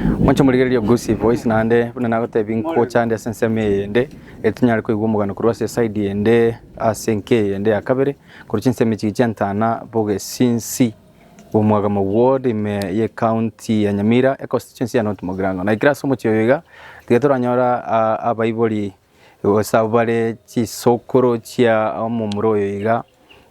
Moche morigererie ogosie boys naende buna nagotebia nkocha ande ase ensemo eyende ere tonyare koigwa omogano korwa ase eside eyende ase enka eyende ya kabere korwa chinsemo echi chiantana bogesinsi bw'omwagama ward ime ye county ya Nyamira econstituency ya North Mogrango. Na ekero ase omochie oyo iga tiga toranyora abaibori gose abwo bare chisokoro chia omomura oyo iga,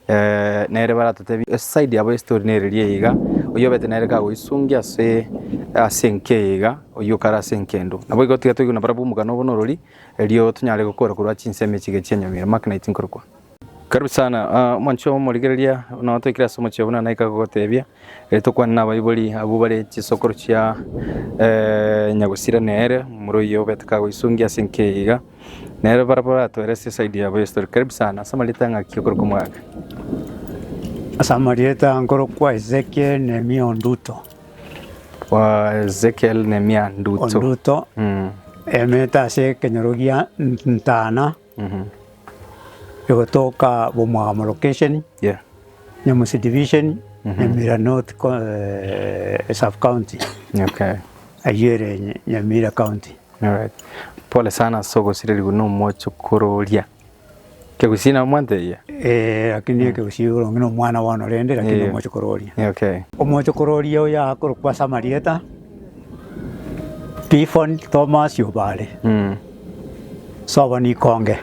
eh, nere baratotebi eside yabo y'estori nere eria iga, oyio obete nere kagoisungia ase ase enka eye iga, oyio okare ase enka endo. Nabo igo tiga toigwe nabarabwo omogano obo na orori, erio tonyare gokora korwa chinsemo echi iga chi'enyomira, makinite nkorokwa. Karibu sana ah, omonche omorigereria nao toikire ase omochie buna naika gogotebia eh, tokwane nabaibori abwo bare chisokoro chia eh, nyagusira nere moroyio obete kagoisungia ase enkeyo iga nere barabo baratoere ase esaidi yabo yesitori karibu sana ase amarita ng'aki okorokwa omogaka Asa amarieta nkorokwa Ezekiel Nehemia Onduto. wa ezekiel nemia nduto Onduto Mm. emete ase ekenyoro gia Ntana Egotoka bw'omogamo location Nyamusi division Nyamira North sub county ayio ere Nyamira county. Pole sana ase ogosirerigwa na omochokoro oria. Kegusii nabo mwantebia? Ee lakini ekegusii boronge na omwana bono rende lakini omochokoro oria. Omochokoro oria oyo akorokwa ase amarieta. Tifoni Tomasi o Bare, sobo nikonge.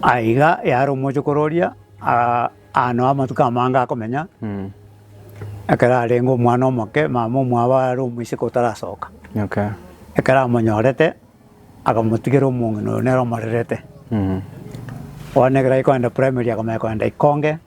Aiga yare omochokoro oria aa- aano amatuko amange akomenya, ekero arenge omwana omoke, mama omwabo are omoiseke otarasoka. Ekero amonyorete, akamotigera omong'ina oyo nere omorerete. Bono ekero aye kogenda primary akomanya kogenda ikonge.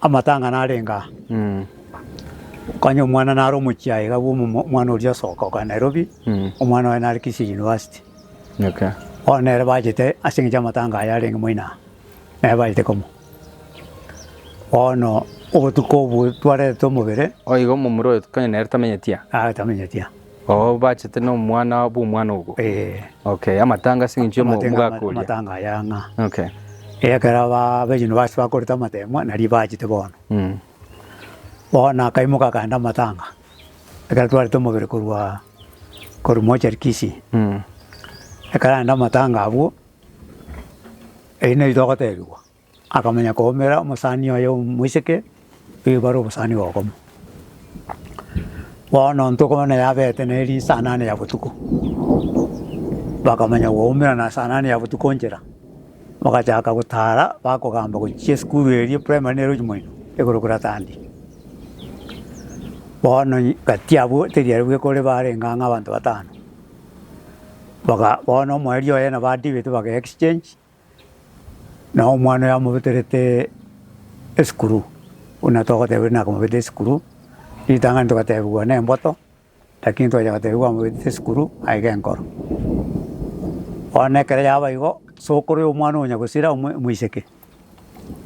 Amatang'ana arenge aa, Konya omwana nare omochiaye iga bwo omwana oria osoka oka Nairobi, omwana oye nare Kisii University. Bono nere bachete ase eng'encho amatanga aye arenge moino aa, nere bachete komo. Bono obotuko obwo twarete omobere. Oigo omomura oyo konya nere tamenyeti aa. Aye tamenyeti aa. Oo bachete no mwana bwo mwana ogo. Eh. Okay, amatanga ase engencho emo mogakoria. Amatanga aya ng'a. Okay. Ekera ba bejuni basi bakoreta amatemwa nari bachete bono. Mm. Bono akaimoka akaenda amatanga. Ekero twarete omobere korwa korwa mochari Kisii. Mm. Ekero aenda amatanga abwo, eyio neri togotebigwa. Akamanya koumera omosani oye omoiseke, oyo bare obosani bokong'u. Bono ntokobana yabete neri saa nane ya botuko, bakamanya goumera na saa nane ya botuko nchera, bagachaka gotara bakogamba gochia esukuru eria primary nero ochi moino, igoro koratandie. Bono nyi kati abwo teri aria bwekore barenge ang'e abanto batano, baga bono omoerio oye nabo adiveti baga exchange. Na omwana oyo amobeterete esikuru, buna togoteba buna akamobeta esikuru, ritang'ani togatebigwa nemboto, lakini twachaka gotebigwa amobetete esikuru aye genkoro. Bono ekero yaba igo, sokoro ya omwana onya gosira omo omoiseke,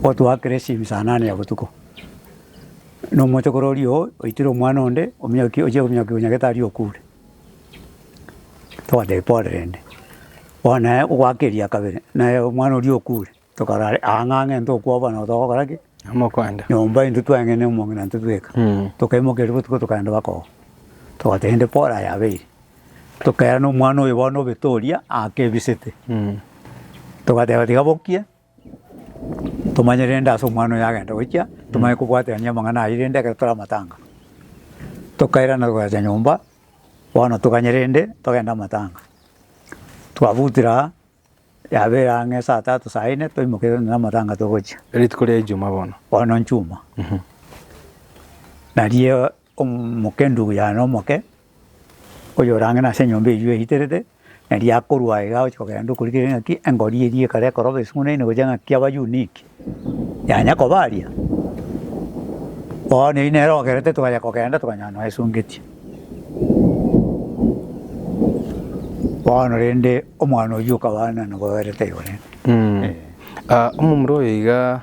otugwa kera esimi saa nane ya botuko, na omochokoro oria oo oitire omwana onde ominyokie ochia kominyokia onya gete aria okure. Togateba pore rende, bono naye ogoaka eria kabere, naye omwana oria okure, tokarora are aa ng'a ng'e ntokwa bono na togokora ki? Namokwanda. Nyomba intwe tweng'ene omong'ina intwe tweka, tokaimokeria botuko tokaenda baka oo. Togoteba rende pore aye abeire, tokairana omwana oyo bono obete oria aake ebisete, togateba tiga bokie. Tomanye rende ase omwana oyo agenda gochia, tomanye kobwaterania amang'ana ayio rende ekero tore amatanga. Tokairana togacha nyomba, bono toganye rende togende amatanga. Twabutire aa, yaba ere ang'e saa tatu saa ine, toimoke rende na amatanga togochia. Rituko ria Ijuma bono. Bono nchuma. Nario. Omokendu oyare omoke, oyorang'ina ase enyomba eyio eiterete, na riakorwa iga agochia kogenda okorigera ng'aki engori eyio ekare ekoroba esung'unaine gochia ng'aki abayuniki yanya koba aria. Bono eyio nere ogerete togachia kogenda tokanyora nonya esungetie. Bono rende omwana oyio okaba nabo oberete igoro ime. Omomura oyo iga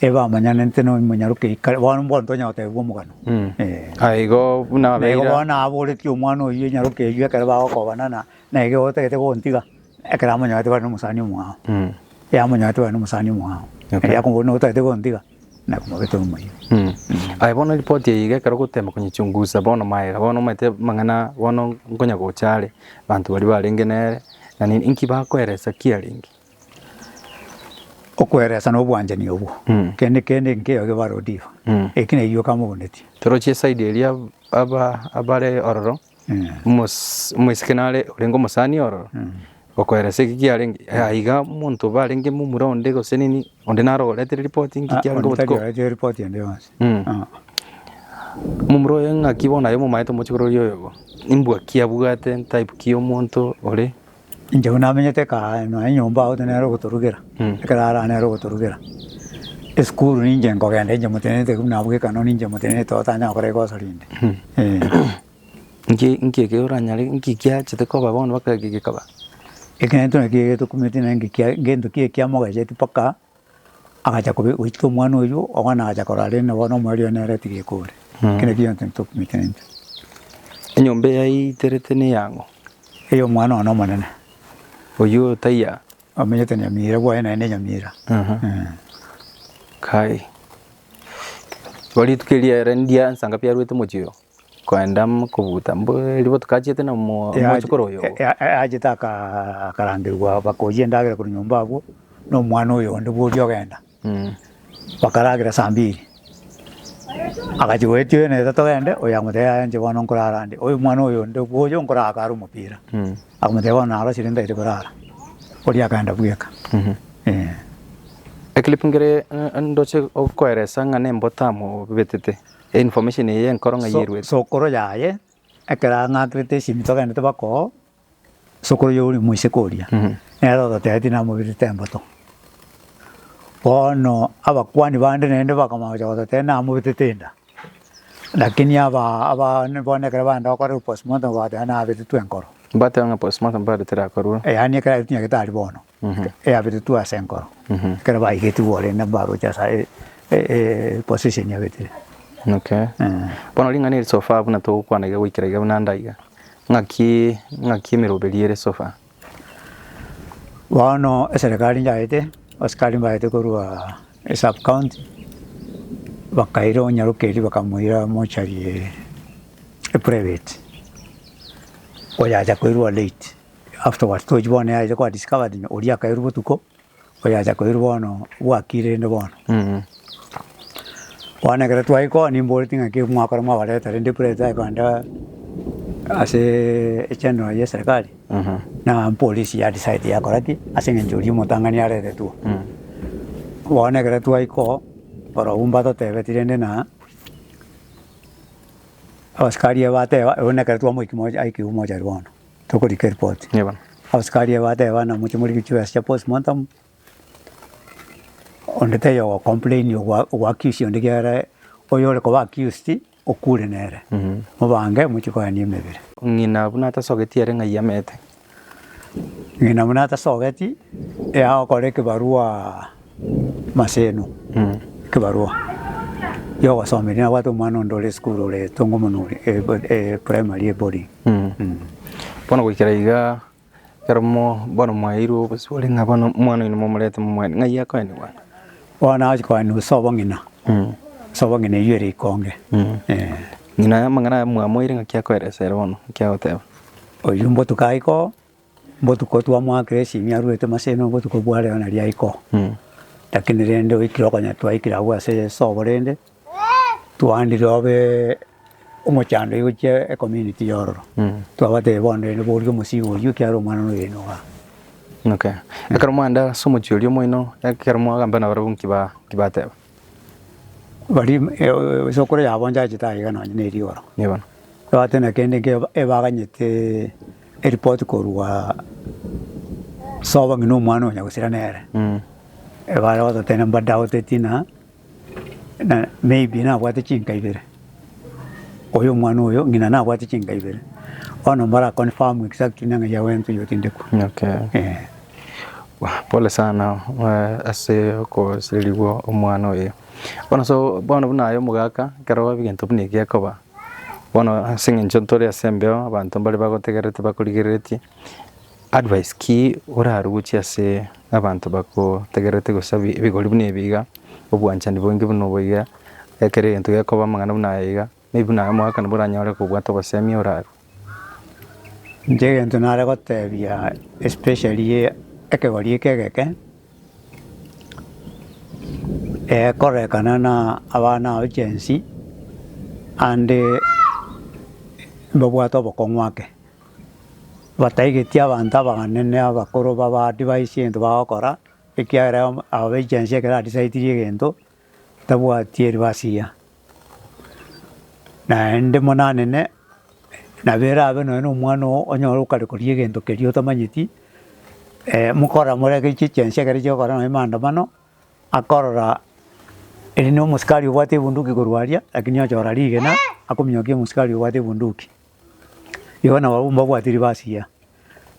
Ebamanyanete na omonyarokeria kare, bono mbwenu tonya gotebigwa omogano. Mm. Eh. Ah, igo buna Na abeira igo bono aboreti omwana oyio enyaroke eyio ekero bagokobana na na iga otagete gontiga, ekero amonyarete bare nomosani omwao. Mm. Yamonyarete bare nomosani omwao. Okay. Erio akomoboria nabo otagete gontiga, na komobeta omoyio. Mm. Aye bono ripoti eye iga ekero ogotemba konyichungusa bono maega bono omanyete amang'ana bono nkonyagocha are, abanto baria barenge nere na nini, inki bakoeresa kiarenge? Okweresa na obwanchani obwo, kende kende nkeo egebare odiva, eki neyio kamogonetie. Toroche esaidi eria aba abare ororo, omos omoiseke nare orenge omosani ororo, okoeresa eki kiarenge aa iga monto barenge momura onde gose nini, onde naro ogoretere ripoti nki kiarenge onde tari obotuko orete ripoti ende yonsi. Ah. Momura oye ng'aki bono aye momaete omochie korwa oria oyogo, imbwa ki abwate, type ki ya omonto ore, Inche buna namenyete kaa nonya nyomba agote nere ogotorugera, ekero ara nere ogotorugera. Esukuru ninche nkogenda inche motenenete buna abwo gekanao ninche motenenete otanyare gokora rikosa rinde eh. Nki nki ekero oranyare nki kiachete koba bono mpaka eke gekaba? Ekero ntokumete naki kia gento ki ekiamogacheti mpaka. Agacha kobe gochika omwana oyio, omwana agacha korora rende na bono omorero oye nere tigeka ore. Mm. Ekero ekio egento ntokumikenete. Enyomba eyaiterete neyang'o? Ey'omwana one omonene, Oyio taiya. omenyete nyamira bwaye naende nyamira. Aha. Eh. Kai. Bo rituko eria ere ndiansa ng'a biarwete mochie oyo. Koenda mokobuta mbu eriboto kachiete na omo- Eache- omochokoro oyo. e- e- e- eachete aka- akarangerigwa bakoyia endagera korwa nyomba abwo na omwana oyo onde bworia ogenda, Mm. bakaragera saa mbiri, agachi goetia oyo neta togende, oyo akamotebia yaya inche bono nkorara ande, oyo omwana oyo onde bwoya onkoraka are omopira, Mm. akamotebia bono narosire ndagete korara, oria akaenda bweka Mhm. eh. Ekilipu nkere eh, ndoche gokoeresa ng'a na emboto amo obetete. Information eye enkoro ng'ai eruete? Sokoro yaye ekero ang'akerete esimi togenderete bako sokoro oyo ore moiseke oria nere ototebetie namobirete emboto. Bono abakuani bande naende bakamanya gocha gototebia namobetete enda lakini aba aba bono ekero baenda gokora postmortem bateba nabetetwe enkoro. Mbateba ng'a postmortem bado terakorwa. Yaani ekero aria tinyagete aria bono. eabetetwe ase enkoro, ekero baigetigwe ore nabaroche ase e- e- e- position yabetire. Okay. Eh. Bono ring'ana eri so far buna togokwana iga goikera iga buna ande iga. Ng'aki ng'aki emeroberi ere so far? Bono eserekari nyaete, asikari mbaete korwa esub county, bakaira onyarokeri bakamoira mochari eye eprivate, oyacha koirwa late. Afterwards tochi bono yaeire kwa discovered no oria akairwa botuko oyacha koirwa bono bwakire rende bono. Bono ekero twaye koo nimboreti ng'a ki mwakora mwabareta rende epura etae kogenda ase echenero ye serikali na mpolisi ya decide yakora ki ase eng'encho oria omotang'ani areretwe. Bono ekero twaye koo orobwo mbatotebeti rende na abasikari aba bateba ebu nekero twamoikire mocha aikigwe mochari bono. Tokorika eripoti. Abasikari aba bateba ng'a moche morike chiwesi chia post mortem, onde taiyo ogo complain ogwa ogwa accuse onde ekiagera oyo ore koba accused okure nere. Mobange mochie koyania emebere. Ng'ina buna atasogeti ere ng'ai amete. Ng'ina buna atasogeti, eao okore ekebarua. Maseno, ekebarua gi'ogosoma eria nabwate omwana onde ore esukuru ore etongo mono ore eprimary eboarding. Bono goikera iga ekero bono mwaeirwe obosibore ng'a bono omwana oino momorete momwane ng'ai akoenigwa? Bono agochia koenigwa ase obong'ina, ase obong'ina eywo ere ikonge. Ng'ina amang'ana aya mwamoeire ng'aki akoelesere bono, ng'aki agoteba? Oyio mbotuko aye ko Botuko twa Moakireshimi arwete Maseno obotuko bwa reo na riaiko, lakini rende oikire okonya twaikire agwo ase Yeso obo rende twandire obe omochando igochia ecommunity yororo twabatebia bono rende boria omosii oria ekiagera omwana noyo oino igaa. Okay. Ekero mwaenda ase omochie oria omoino, ekero mwagambana nabarabwo nki ba nki bateba? Baria esokoro yabo nchachete aye iga nonye ne rigoro. Nigo. Ebwate na kende nge ebaganyete eripoti korwa sobo ng'ina omwana onya gosira nere. Ebare gototebia mbadagotetie ng'a na maybe nabwate chinka ibere. Oyo omwana oyo ng'ina nabwate chinka ibere, bono mbare a confirm exactly neng'a ya wento oyo otindekwa. Okay. Eh. Wah, Pole sana eh, ase okosererigwa omwana oye. Bono so bono buna aye omogaka ekero ebigento buna ebi biakoba bono ase eng'encho ntore ase embeo abanto mbare bagotegererete bakorigereretie Advice ki oraruche ase abanto bagotegererete gosabie ebigori buna ebi iga, obwanchani boinge buna obo iga, ekero egento gekoba amang'ana buna aya iga, maybe buna aya omwaka nabwo oranyore kobwate obosemi orarue. Inche egento nare gotebia especially ekegori eke egeke, ekorekana na abana aba Gen Z ande mbabwate obokong'u ake. Bataigeti abanto abanene abakoro babadivice egento bagokora, ekiagera aba ba echiansi ekero adicitirie egento, tabwati eribasi eria. Naende buna anene, nabo erabe nonya na omwana oo onyore okare koria egento keria otamanyeti, mokora more ake echi echiansi ekero chiakogora nonya maandamano, akorora eri na omosikari obwate ebunduki korwa aria, lakini ochora rigena, akominyokia omosikari obwate ebunduki. Igo nabo abwo mbabwati ribasiya,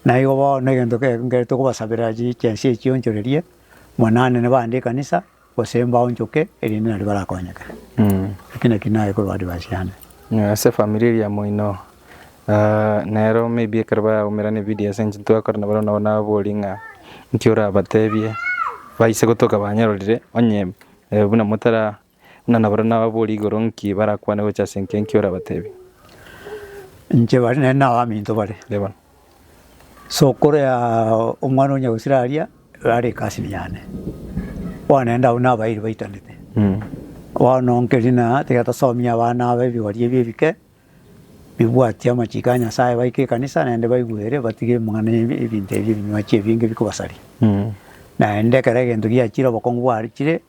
na igo bono egento ke ekere tokobasabera chi chense echio chionchorerie, mwananene bande ekanisa, gose mbaonchoke erinde naende barakonyeke. Eki naki naye korwa advice yane. Ng'a ase efamiri eria moino nero maybe ekero baraumerana ebidio ase eng'encho ntibakora nabo nabo nababorie ng'a nki orabatebie baise gotoka banyarorire onye buna motara Buna nabaria nababoria igoro nki barakwane gocha ase enki enki orabatebi. Inche bare nere na abaminto bare. Reba. Sokorea omwana onya gosira aria rare ekasini yane. Bono naende abwo nabairi baitanete. Bono nkeri na tiga tosomie abana aba ebigori ebi ebike bibwatie amachiko a Nyasaye baike ekanisa naende baigwere batige amang'ana ebinto ebi ebinywachi ebinge bikobasaria. Naende ekero egento giachire obokongu bwachire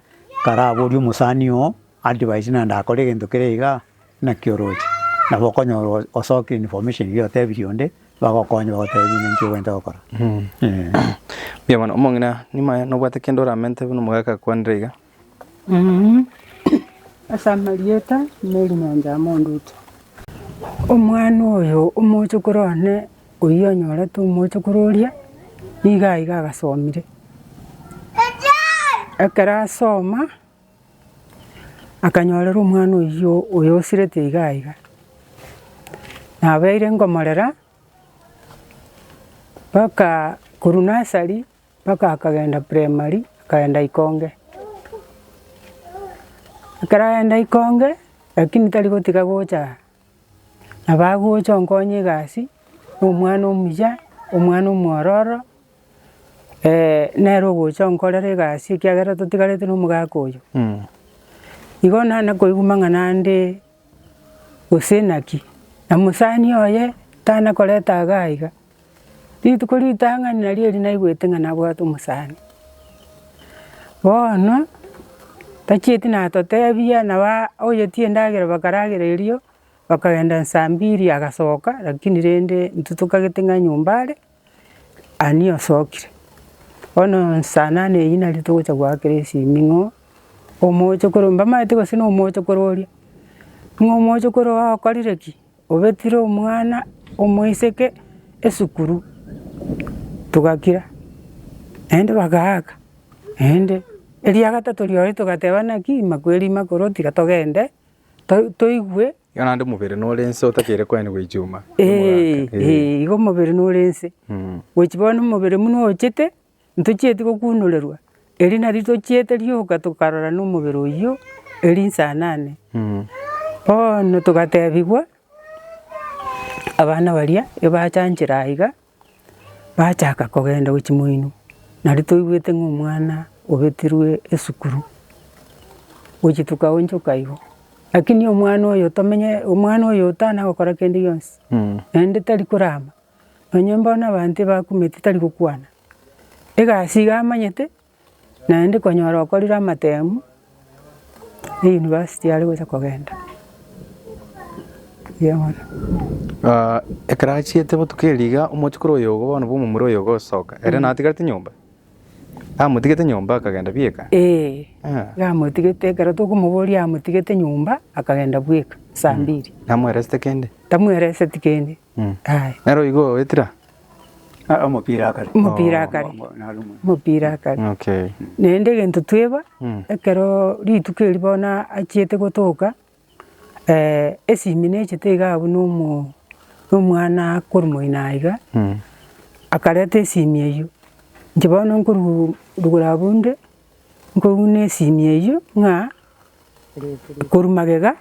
Karaborie omosani oo advice naende akore egento kere igaa, naki oroche? Nabo okonyora o- osoki information eria otebirie onde, bagokonye bagotebie ng'a ninki obwenerete gokora eeh. Mbuya mono, omong'ina nyuma aye nobwate kende oramente buna omogaka akwanire iga? Ase amarieta, Mary Mwanzaa Mondutu. Omwana oyo omoche korwa one. Oyio onyorete omochokoro oria, nigo aiga agasomire. Ekero asoma, akanyorera omwana oyio oyo osirete iga iga, nabeire ngomorera, mpaka korwa nursery mpaka akagenda primary, akagenda ikonge. Ekero agenda ikonge, lakini tari gotiga gocha. Na bagocha onkonye egasi, na omwana omuya, omwana omwororo, nere ogocha onkorera egasi ekiagera totigarete na omogaka oyo. Igo nane koigwa amang'ana ande gose naki, na mosani oye tana koreta iga iga. Rituko ritang'ani nario eri naigwete ng'a nabwate omosani. Bono tachieti natotebia nabo aa oyetie endagera bakaragera erio, bakagenda saa mbiri agasoka lakini rende intwe tokagete ng'a nyomba are, ani osokire. Bono saa nane eyio nario togocha goakera esiming'o, omochokoro mbamaete gose na omochokoro oria, ng'a omochokoro okorire ki? Obetire omwana omoiseke esukuru, togakira, naende bagaaka, naende eria gatato riaye togateba naki ima kweri ima kore otiga togende to- toigwe. Igo naende omobere nore nse otakeire koenigwa echuma. Eeh, eeh igo omobere nore nse. Gochi bono omobere buna ochete. Ntochieti gokuunorerwa, eri nario tochiete rioka tokarora nomobere oyio eri nsanane. Bono togatebigwa abana baria ebachanchire aiga, bachaka kogenda gwe chimoino. Nario toigwete ng'a omwana obetirwe esukuru, gochia tokaonchoka igo. Lakini omwana oyo tomenye omwana oyo tanagokora kende gionsi, naende tari korama. Onye mbono abanto ebakumete tari gokwana, egasi iga amanyete, naende konyora okorire amatemu, na university are gocha kogenda. Mbuya mono. Ah, ekero achiete botuko erio iga omochokoro oyo ogo bono bwa omomura oyo ogosoka, ere natigarete nyomba? Amotigete nyomba akagenda bweka? Ee, Ah. iga amotigete ekero tokomoboria amotigete nyomba akagenda bweka, saa mbiri. Namweresete kende? Tamwereseti kende. Nero igo etira omopira akare. Omopira akare. Omopira akare. Okay. Naende egento tweba ekero rituko eri bono achiete gotoka esimi nechete iga abwo na omo na omwana korwa moino aiga akareta esimi eyio. Inche bono nkorugura abwo inde Nkoguna esimi eyio ng'a korwa magega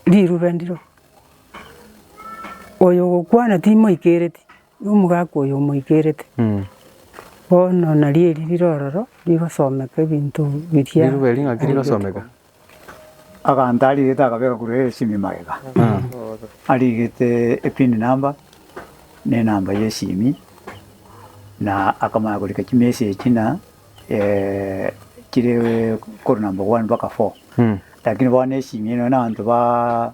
rirube ndiro. Oyo ogokwana timoikereti, na omogaka oyo omoikereti. Bono nario eri rire ororo rigosomeka ebinto biria. Rirube ring'aki rigosomeka? Aganto arigete akabeka korwa esimi magega, arigete epin number na enamba y'esimi, na akamanya korika chimessage ng'a eh, chire korwa number one mpaka four. Lakini bono esimi eye nonya na abanto ba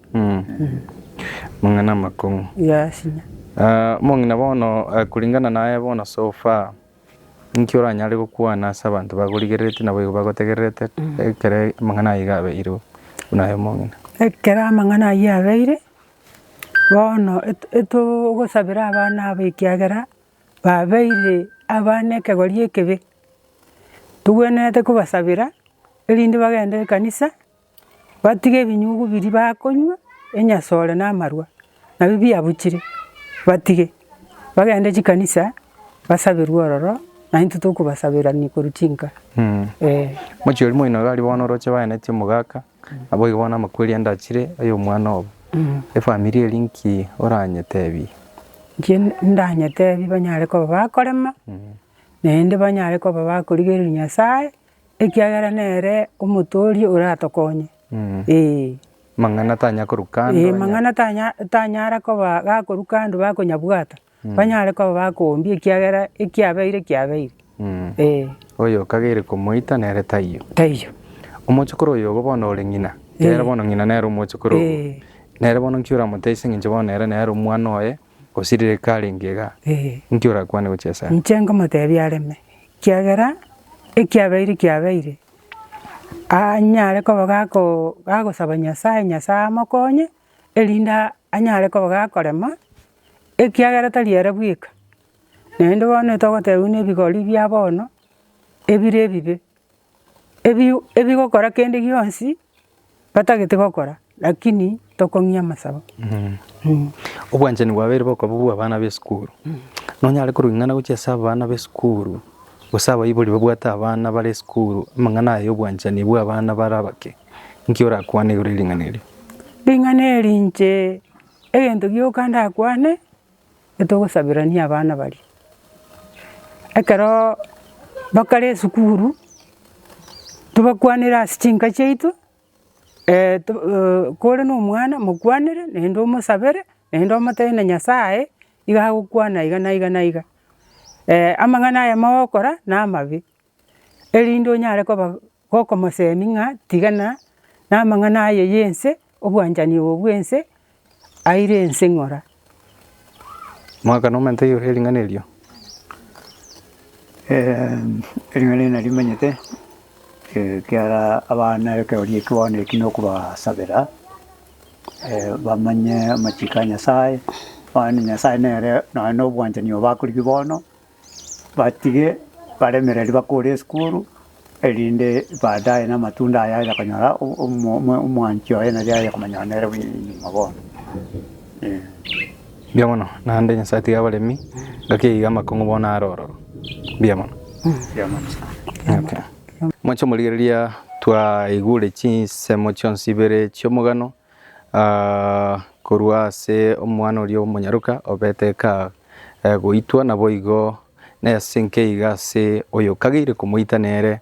Amang'ana amakong'u. Omong'ina bono kuringana naye bono so far inki oranyare gokwana ase abanto bakorigerereti naboigo bagotegererete ekero amang'ana ayio iga abeire buna aye omong'ina? Ekero amang'ana ayio abeire, bono etogosabera abana abo ekiagera babeire abana ekegori ekebe, togwenerete kobasabera erinde bagende ekanisa. Batige ebinyugu biria bakonywa, enyasore na amarwa, nabio biabuchire, batige, bagende chikanisa, basaberwe ororo, na intwe tokobasaberania korwa chinka, eh. Mochie oria moino iga aria bono oroche baeneti omogaka, naboigo bono amakweri ande achire aya omwana obo. Efamiri eria nki oranyetebie? Nki ndanyetebie banyare koba bakorema, naende banyare koba bakorigereria Nyasae, Ekiagera nere omotooria oratokonye. Ee. Mang'ana tanya korwa kando. Ee mang'ana tanya tanyara koba gakorwa kando bakonyabwata, banyare koba bakombia ekiagera ekiabeire kiabeire. Ee. Oyo okageire komoita nere taiyo. Taiyo. Omochokoro oyo obo bono ore ng'ina, ekero bono ng'ina nere omochokoro obo. Ee. Nere bono nki oramotesie ng'incho bono ere nere omwana oye. Gose riria karenge iga, inki orakwane gochia ase are? Inche nkomotebia areme, ekiagera ekiabeire kiabeire, anyare koba gako gagosaba Nyasaye, Nyasaye amokonye, erinde anyare koba gakorema, ekiagera tari ere bweka, naende bono togotebiwa na ebigori bia bono, ebire ebibe. ebi ebigokora kende gionsi batagete gokora lakini tokong'ia amasabo. Obwanchani bwabeire bokoba bwa abana b'esukuru. Nonyare korwa ing'ana gochia ase abana b'esukuru gose abaibori babwate abana bare esukuru amang'ana aya y'obwanchani bwa abana bare abake. Nki orakwane igoro ye ring'ana erio? Ring'ana eri inche egento gioka ndakwane. etogosaberania abana baria. Ekeroo bakare esukuru, tobakwanere ase chinka chiaito, kore na omwana mokwanere naende omosabere, naende omotebie na nyasaye iga agokwana iga na iga na iga. amang'ana aya mogokora na amabe, erinde onyare koba. Gokomosemi ng'a tigana namang'ana aye yense, obwanchani obo bwense aire ense ng'ora. Mwakana omonto oyoria ering'ana erio. Ering'ana eri narimenyete, ekiara abana ekeroria eki bono eki nokobasabera, bamanye amachiko a Nyasaye, bamanye Nyasaye nere nonye nobwanchani obo akorigwe bono. Batige baremereri bakore esukuru, erinde baadaye namatunda aye aye konyora omwanchi oye nari aye komanyora nere bwenyinyingo bono. Mbuya mono, naende Nyasae tiga abaremi ngaki eyio amakong'u bono are ororo. Mbuya mono. Mbuya mono sana. Moche omorigereria twaigure chinsemo chionsi ibere chi'omogano korwa ase omwana oria omonyaroka obete kagoitwa, naboigo nese nkeiga ase oyokageire komoita nere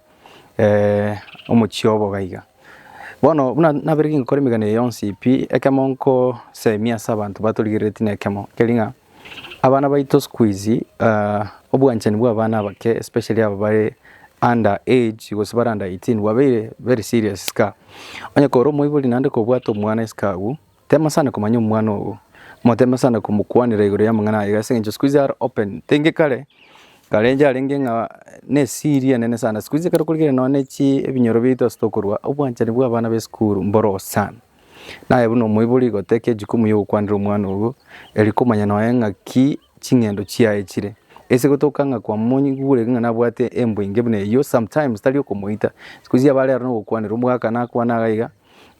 omochie obo gaiga. Bono buna nabeire kingokora emegano eye yonsi pi, ekemo nkosemia ase abanto batorigereretie nekemo, ker'ing'a. Abana baito sikuizi obwanchani bwa abana abake especially aba bare under age gose bare under 18 bwabeire very serious iska. Onye kore omoibori naende kobwate omwana iska agwo, tema sana komanya omwana ogo, moteme sana komokwanera igoro y'amang'ana aye iga ase eng'encho sikuizi are open tenge kare, kare enche arenge ng'a na esiri enene sana. Sikuizi ekero korigire nonya ne chi ebinyoro biaito ase tokorua, obwanchani bwa abana b'esukuru mboro sana. Naye buna omoibori goteka ejukumu y'ogokwanera omwana ogo, erio komanya nonya ng'aki ching'endo chiaye chire. Ase gotoka ng'a kwamonyigureti ng'a nabwate embwa enge buna eyio, sometimes tari okomoita, siku eria abare aro nogokwanera omogakano akwane iga iga,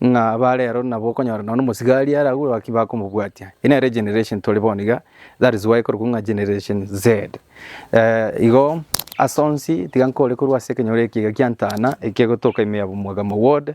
ng'a abare aro nabo okonyora nonya na omosigari are agwo naki bakomobwatia. Eye nere generation tore bono iga, that is why korokwo ng'a generation Z. igo ase onsi, tiga nkore korwa ase ekenyoro eke iga kiantana, ekegotoka ime ya Bumwagamo ward.